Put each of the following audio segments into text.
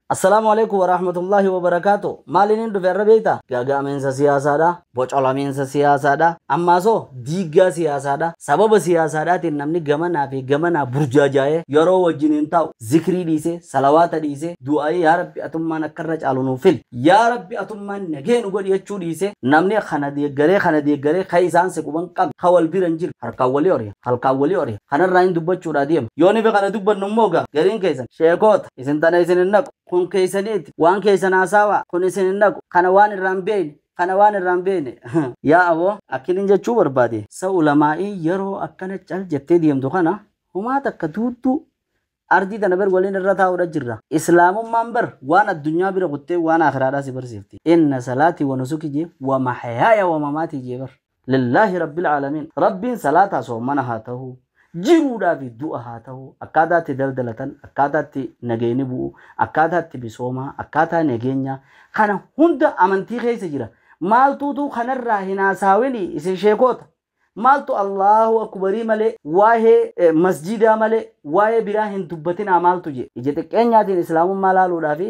Assalaamu Aleeykum Warahmatullaahi Wabarakaatuh Maaliniin dhufe har'a beeyta? Gaaga'amiinsa siyaasaadha. Bocolamiinsa siyaasaadha. Ammaasoo diiggaa siyaasaadha. Sababa siyaasaadhaatiin namni gamanaa fi gamanaa burjaajaayee yeroo wajjin hin taa'u. Zikrii dhiisee, salawaata dhiisee, du'aa'ii yaa Rabbi atummaan akka irra caalu nuuf fili, yaa Rabbi atummaan nagee nu godhi jechuu dhiisee namni kana deeggaree kana deeggaree ka isaan si quban qabne, ka wal bira hin jirre harkaan walii oriya, halkaan walii oriya. Kanarraayin dubbachuudhaa deema. Yoo nifi kana dubbannu immoo egaa gariin keessan sheekoota, Isin tana isin hin naqu. Kun keessaniiti. Waan keessan haasaawa. Kun isin hin naqu. Kana waan irraa hin beeyne. Kana waan irraa hin beeyne. Yaa aboo! Akkinin jechuu barbaade. Sa ulamaa'iin yeroo akkana cal jettee deemtu kana homaa takka duudduu ardii tana bar waliin irra taa'uudha jirra. Islaamummaan bar waan addunyaa bira kuttee waan aakhiraadhaa si barsiifti. Inna salaatii wa nusuki jee wa mahayaaya wa mamaatii jee bar. Lillaahi Rabbil Aalamiin Rabbiin salaataa soommana haa tahu jiruudhaa fi du'a haa tahu akkaataa itti daldalatan akkaataa itti nageyni bu'u akkaataa itti misoomaa akkaataa nageenyaa kana hunda amantii keessa jira maaltuu utuu kanarraa hin haasaawini isin sheekoota maaltu Allaahu Akubarii malee waahee masjiidaa malee waahee biraa hin dubbatinaa maaltu je ija xiqqeenyaatiin islaamummaa laaluudhaa fi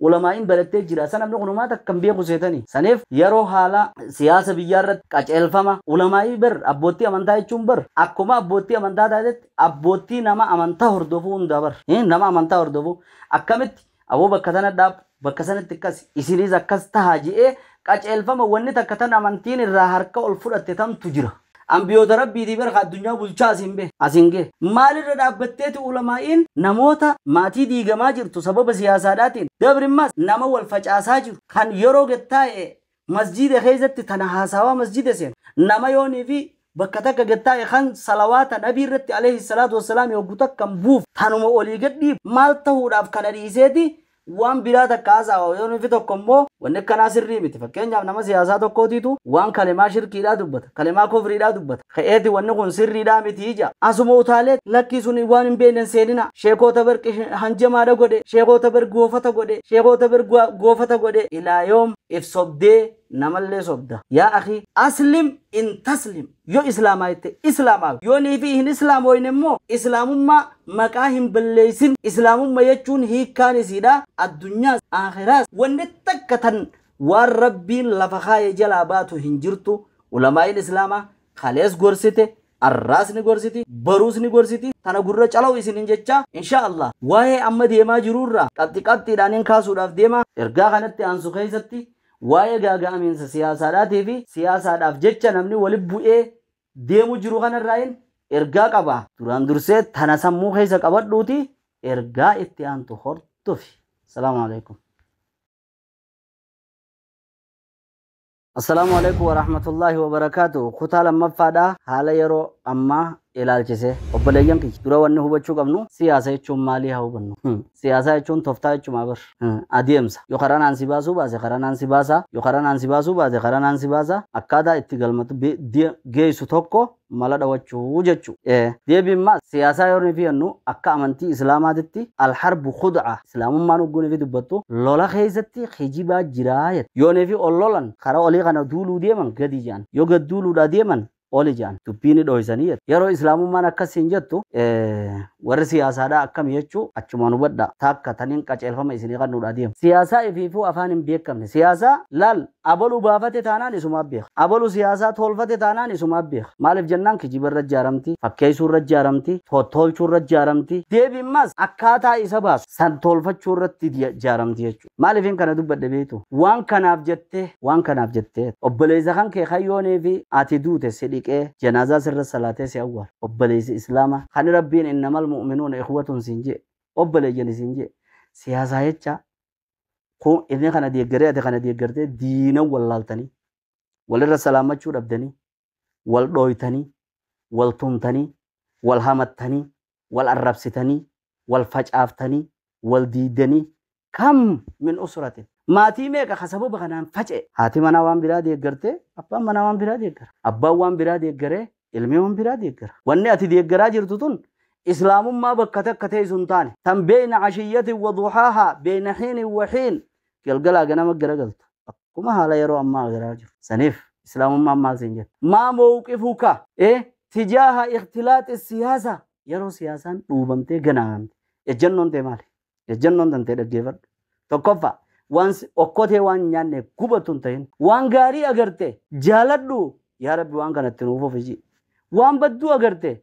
Ulamaa'iin barattee jira. Sa namni kun homaa takka hin beeku seetanii. Saniif yeroo haala siyaasa biyyaa irratti qaceelfama ulamaa'ii bar abboottii amantaa jechuun bar akkuma abboottii amantaa taatetti abboottii nama amantaa hordofuu hundaa bar hin nama amantaa hordofuu akkamitti aboo bakka tana dhaab bakka sanitti akkasi isiniis akkas tahaa je'ee qaceelfama wanni takka tan amantiin irraa harka ol fudhatte tantu jira. Anbiyoota Rabbiitii bar ka addunyaa bulchaa asiin bahe, asiin gahe. Maalirra dhaabbatteeti ulamaa'iin namoota maatii diigamaa jirtu sababa siyaasaadhaatiin, dabrimmaas nama wal facaasaa jiru, kan yeroo gad taa'e masjiida keessatti tana haasaawaa masjida seenu, nama yoonii fi bakka takka gad taa'e kan salawaata nabii irratti aleyhi salaatu wassalaami hoggu takkan buufu tanuma olii gad dhiibu, maal tahuudhaaf kana dhiiseeti Waan biraa takka haasaawa yoo nufi tokko immoo wanni akkanaa sirrii miti. Fakkeenyaaf nama siyaasaa tokkootiitu waan kalemaa shirkiidhaa dubbata, kalemaa kufriidhaa dubbata. Ka'eeti wanni kun sirriidhaa miti ja'a. Asuma utaalee lakkii suni waan hin beeyne hin seeninaa. Sheekoota bar hanjamaadha godhe, sheekoota bar goofata godhe, sheekoota bar goofata godhe ilaa yoom if sobdee namallee sobda. Yaa akhii aslim in taslim. Yoo islaamaayte islaamaawi, yoo niifi hin islaamooyne immoo islaamummaa maqaa hin balleeysin, islaamumma jechuun hiikkaan isiidhaa addunyaas aakhiraas wanni takka tan waan Rabbiin lafa kaaye jalaa baatu hin jirtu, ulamaa'iin islaamaa kalees gorsite, arraas ni gorsiti, baruus ni gorsiti, tana gurra calaw isiniin jechaa inshaa allaah waa'ee amma deemaa jiruurraa qabxi qabxiidhaan in kaasuudhaaf deema, ergaa kanatti aansu keeysatti Waa'ee gaaga'amiinsa siyaasaadhaatii fi siyaasaadhaaf jecha namni wali bu'ee deemu jiru kana irraayin ergaa qaba. Duraan dursee tana sammuu keessa qabadhuutii ergaa itti aantu hordofi. Assalaamu alaikum. Assalaamu alaikum warahmatullaahi wabarakaatuh. Kutaa lammaffaadha haala yeroo ammaa ilaalchisee. Obboleeyyan kiyya dura wanni hubachuu qabnu siyaasa jechuun maalii haa hubannu. Siyaasaa jechuun toftaa jechumaa bar. Adeemsa. Yoo karaa naan si baasuu baase karaa naan si baasa, yoo karaa naan si baasuu baate karaa naan si baasa, akkaataa itti galmatu be, de, geessu tokko mala dhawachuu jechu. E. Deebiin ma, siyaasaa yoo nufi jennu akka amantii Islaamaatitti Al-harbu khud'a, Islaamummaan hogguu nufi dubbattu lola keessatti kijibaa jiraa jette. Yoo nufi ol lolan karaa olii kana duuluu deeman gadi jedhan. Yoo gad duuluudhaa deeman oli je'an. Dubbii ni dhooysanii jette. Yeroo Islaamummaan akkas siin jettu, warri siyaasaadhaa akkami jechuu achumaan hubadhaa. Taakka taniin qaceelfama isinii qannuudhaa deema. Siyaasaa ifiifuu afaan hin beekkamne. Siyaasaa laal abalu baafate taanaan isumaaf beeka. Abalu siyaasaa toolfate taanaan isumaaf beeka. Maaliif jennaan kijiba irra jaaramti, fakkeeysuu irra jaaramti, tottoolchuu irra jaaramti. Deebiin maas akkaataa isa baasu san toolfachuu irratti jaaramti jechuudha. Maaliifin kana dubbadhe beektu? Waan kanaaf jettee, waan kanaaf jettee. Obboleessa kan kee kan yoo neefi ati duute si dhiqee, janaazaa sirra salaatee si awwaale. Obboleessi Islaama kan Rabbiin innamal mu'minuuna ikhwatun siin je'e, obboleeyyani siin je'e, si hasaayachaa, kun inni kana deeggaree ati kana deeggartee diina wallaaltanii, walirra salaammachuu dhabdanii, wal dhooytanii, wal tumtanii, wal hamattanii, wal arrabsitanii, wal facaaftanii, wal diiddanii, kam min usratin, maatii meeqa ka sababa kanaan faca'e. Haati manaa waan biraa deeggartee, abbaan manaa waan biraa deeggara. Abbaan waan biraa deeggaree, ilmi waan biraa deeggara. Wanni ati deeggaraa jirtu tun Islaamummaa bakka takka teessu hin taane. Tan beyna ashiyyatin wa duhaahaa, beyna hiinin wa hiin, Galgalaa ganama garagaltu. Akkuma haala yeroo ammaa agarraa jiru. Saniif Islaamummaan maal siin jette? Maa mowqifuka e tijaaha ikhtilaaxi siyaasa? Yeroo siyaasaan dhuubamtee ganaamamte ejjannoon tee maali? Ejjannoon tantee dhaggeefadhu. Tokkoffaa waan si okkotee waan nyaanne gubatu hin tahin. Waan gaarii agarte jaaladhu yaa Rabbi waan kana itti nuuf fufi ji'i. Waan badduu agarte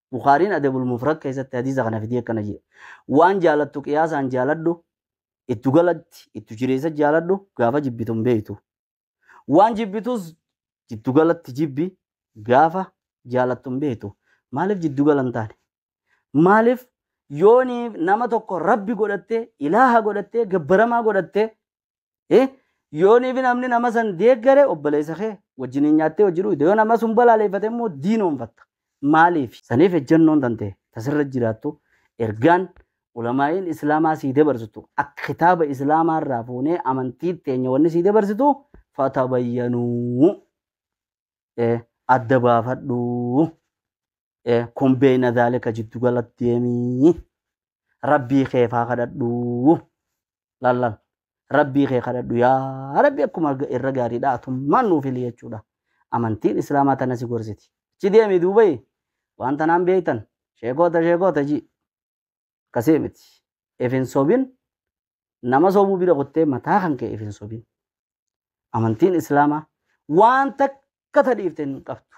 Bukhaariin Adabul Mufrad keessatti hadiisa kana fidee akkana jedhe. Waan jaalattu qiyaasaan jaaladhu, ittu galatti, ittu jireessa jaaladhu, gaafa jibbitu hin beektu. Waan jibbitus jiddu galatti jibbi, gaafa jaalattu hin beektu. Maaliif jiddu gala hin taane? Maaliif yooni nama tokko rabbi godhattee, ilaaha godhattee, gabbaramaa godhattee, Eh? Yoon even namni nama san deeggare obboleessa kee wajjiniin nyaattee wajjin dhugde yoo nama sun balaaleeffate immoo diinoonfatta. Maaliif? Saniif ejjannoon tante tasirra jiraattu ergaan ulamaa'iin islaamaa sii dabarsitu akka kitaaba islaamaa irraa fuunee amantii teenya wanni sii dabarsitu fatabayyanuu. Eh, adda baafadhuu. Eh, kun beeyna zaalika jiddu gala deemii rabbii kee faa kadhadhu lallal rabbii kee kadhadhu yaa rabbi akkuma ga- irra gaariidha atummaan nuuf hili jechuudha amantiin islaamaa tana si gorsiti achi deemi duubayi waan tanaan beeytan sheekoota sheekoota ji akkasii miti ifin sobin nama sobuu bira kuttee mataa kan kee ifin sobin amantiin islaamaa waan takka tadhiifte hin qabdu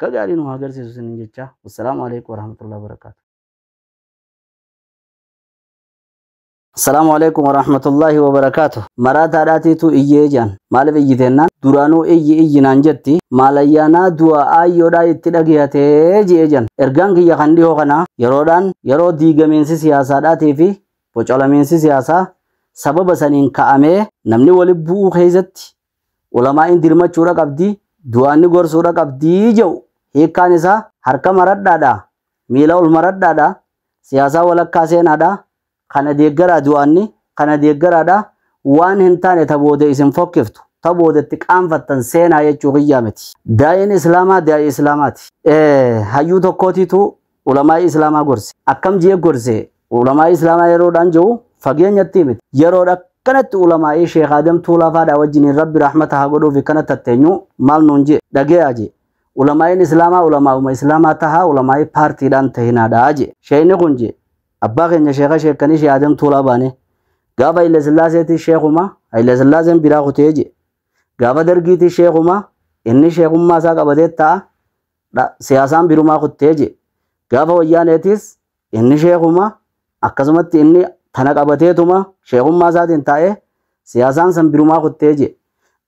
ka gaarii nu haa garsiisu isinin jechaa wassalaamu alaikum warahmatullahi wabarakaatu Assalaamu alaikum warahmatullahi wabarakaatu maraataadhaatiitu iyyee jaan maaliif iyyiteennaan duraanuu iyyi iyyi naan jetti maalayyaanaa du'a aayyoodhaa itti dhageeyatee je'ee jaan ergaan kiyya kan dhihoo kanaa yeroodhaan yeroo diigamiinsi siyaasaadhaatii fi bocolamiinsi siyaasaa sababa saniin ka'amee namni wali bu'uu keessatti Ulamaa'iin dirmachuudha qabdi, du'aanni gorsuudha qabdi je'u hiikkaan isaa harka maradhaadha, miila ol maradhaadha, siyaasaa walakkaa seenaadha, kana deeggaraa du'aanni, kana deeggaraadha, waan hin taane ta booda isin fokkiftu, ta booda itti qaanfattan seenaa jechuu kiyyaa miti. Daa'iin Islaamaa daa'ii Islaamaati. Hayyuu tokkootiitu Ulamaa'ii Islaamaa gorse. Akkam jee gorse? Ulamaa'ii Islaamaa yeroodhaan jehu fageenyattii miti. Yeroodha akkanatti ulamaa'ii Sheekh Aadam Tuulaa faadhaa wajjiniin Rabbi rahmata haa godhuufi kana tatteenyu maal nuun jee? Dhageeyaa jee. Ulamaa'iin Islaamaa ulamaa'uma Islaamaa tahaa ulamaa'ii paartiidhaan tahinaadha jee. Sheeyni kun jee. Abbaa keenya Sheekha Sheekkanii Sheekh Aadam Tuulaa baanee. Gaafa Haile Sillaaseetii Sheekhuma Haile Sillaaseen biraa kutee jee. Gaafa Dargiitii Sheekhuma inni Sheekhummaa isaa qabatee ta'a. dha. Siyaasaan birumaa kuttee jee. Gaafa wayyaaneetis inni sheekuma akkasumatti inni tana qabateetuma sheekummaa isaatiin taa'ee siyaasaan san birumaa kuttee jee.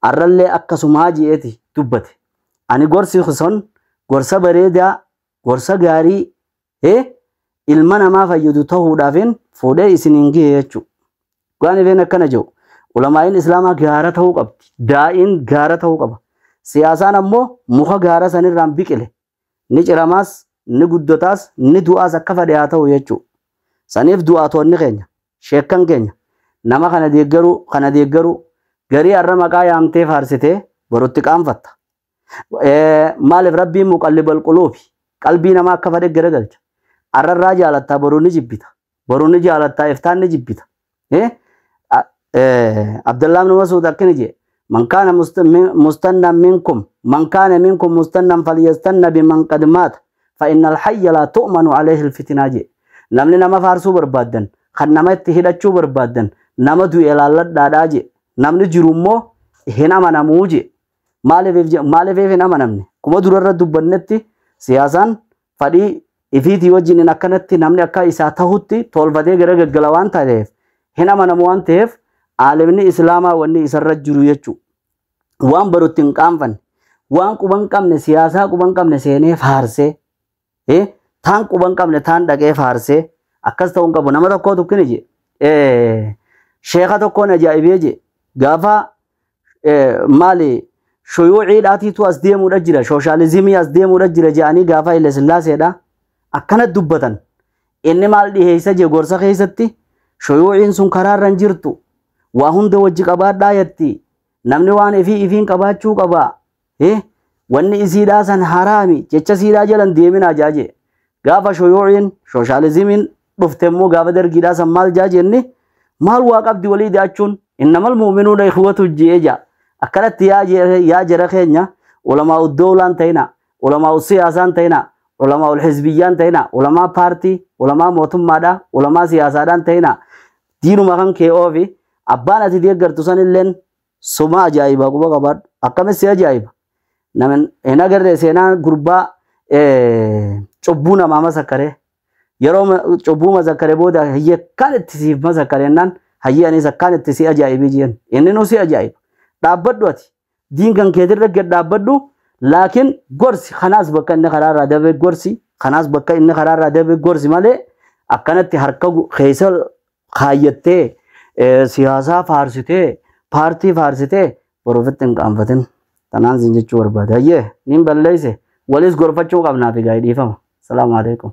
Arrallee akkasumaa jeeti dubbate. Ani gorsi son gorsa bareedaa gorsa gaarii he ilma namaa fayyadu tahuudhaafin fuudhee isiniin gihe jechuu dhugaan ifeen akkana jiru ulamaa'iin islaamaa gaara tahuu qabdi daa'iin gaara tahuu qaba siyaasaan ammoo muka gaara sanirraan biqile ni ciramaas ni guddotaas ni du'aas akka fadhe haa ta'u jechuu saniif du'aatoonni keenya sheekkan keenya nama kana deeggaruu kana deeggaruu garii har'a maqaa yaamtee faarsitee borutti qaanfatta Eh, Maaliif rabbiin muqallibal quluubi qalbii namaa akka fadhe garagalcha. Arrarraa jaalattaa boruu ni jibbita. Boruu ni jaalattaa iftaan ni jibbita. Eh? A- eh, Abdallaa ibn Masuud akkana jedhe. Man kaana must- min- mustannan minkum man kaana minkum mustannan falyastanna biman qad maata fa innal hayya laa tu'manu alayhi alfitinaa jedhe. Namni nama faarsuu barbaaddan kan nama itti hidhachuu barbaaddan nama du'e laalladhaadhaa jedhe. Namni jiru immoo hin amanamuu jedhe. Maaliif je- maaliif hin amanamne? Kuma durarra dubbannetti siyaasaan fadhii ifiitii wajjiniin akkanatti namni akka isaa tahutti tolfatee gara gaggala waan ta'eef hin amanamu waan ta'eef aalimni islaamaa wanni isarra jiru jechuu waan barutti hin qaanfanne waan quban qabne siyaasaa quban qabne seenee faarsee Eh, taan quba hin qabne taan dhaqee faarsee akkas ta'uu hin qabu nama tokkoo tukkini je eh, sheeka tokkoon ajaa'ibee je gaafa eh, maali shuyuuciidhaatiitu as deemuudha jira shooshaalizimii as deemuudha jira je'anii gaafa Haile Sillaaseedha akkana dubbatan inni maal dhiheessa je gorsa keessatti shuyuuciin sun karaarra hin jirtu waa hunda wajji qabaadhaa yatti namni waan ifii ifiin qabaachuu qabaa Eh, wanni isiidhaa san haraami jecha isiidhaa jalan deeminaa jaa jee. Gaafa shuyuuciin, shooshalizimiin dhufte immoo gaafa dargiidhaa san maal jaa jenni? Maal waa qabdi walii da'achuun? Innamal mu'minuuna ikhwatu je'ee jaa. Akkanatti yaa je- yaa jara keenya ulamaa uddowlaan ta'inaa, ulamaa usiyaasaan ta'inaa, ulamaa ulhizbiyyaan ta'inaa, ulamaa paartii, ulamaa mootummaadhaa, ulamaa siyaasaadhaan ta'inaa. Diinuma kan kee oofi. Abbaan ati deeggartu sanilleen Suma ajaa'iba quba qabaadhu. Akkamitti si ajaa'iba? Nama hin agarree seenaa gurbaa eh, cubbuu namaa masakkaree. Yeroo ma- cubbuu masakkaree booda hayyee akkaan itti siif masakkaree jennaan hayyee anis akkaan itti si ajaa'ibii jeen. Inni nu si ajaa'iba. Dhaabbadhu ati. Diin kan keetirra gad dhaabbadhu. Laakiin gorsi kanaas bakka inni karaarraa dabe gorsi. Kanaas bakka inni karaarraa dabe gorsi malee akkanatti harka gu- keessa kaayyattee siyaasaa faarsitee paartii faarsitee borufitti hin qaanfatin tanaan siin jechuu barbaade hayyee niin balleeyse waliis gorfachuu qabnaa fi gaa'ee dhiifama salaamu alaikum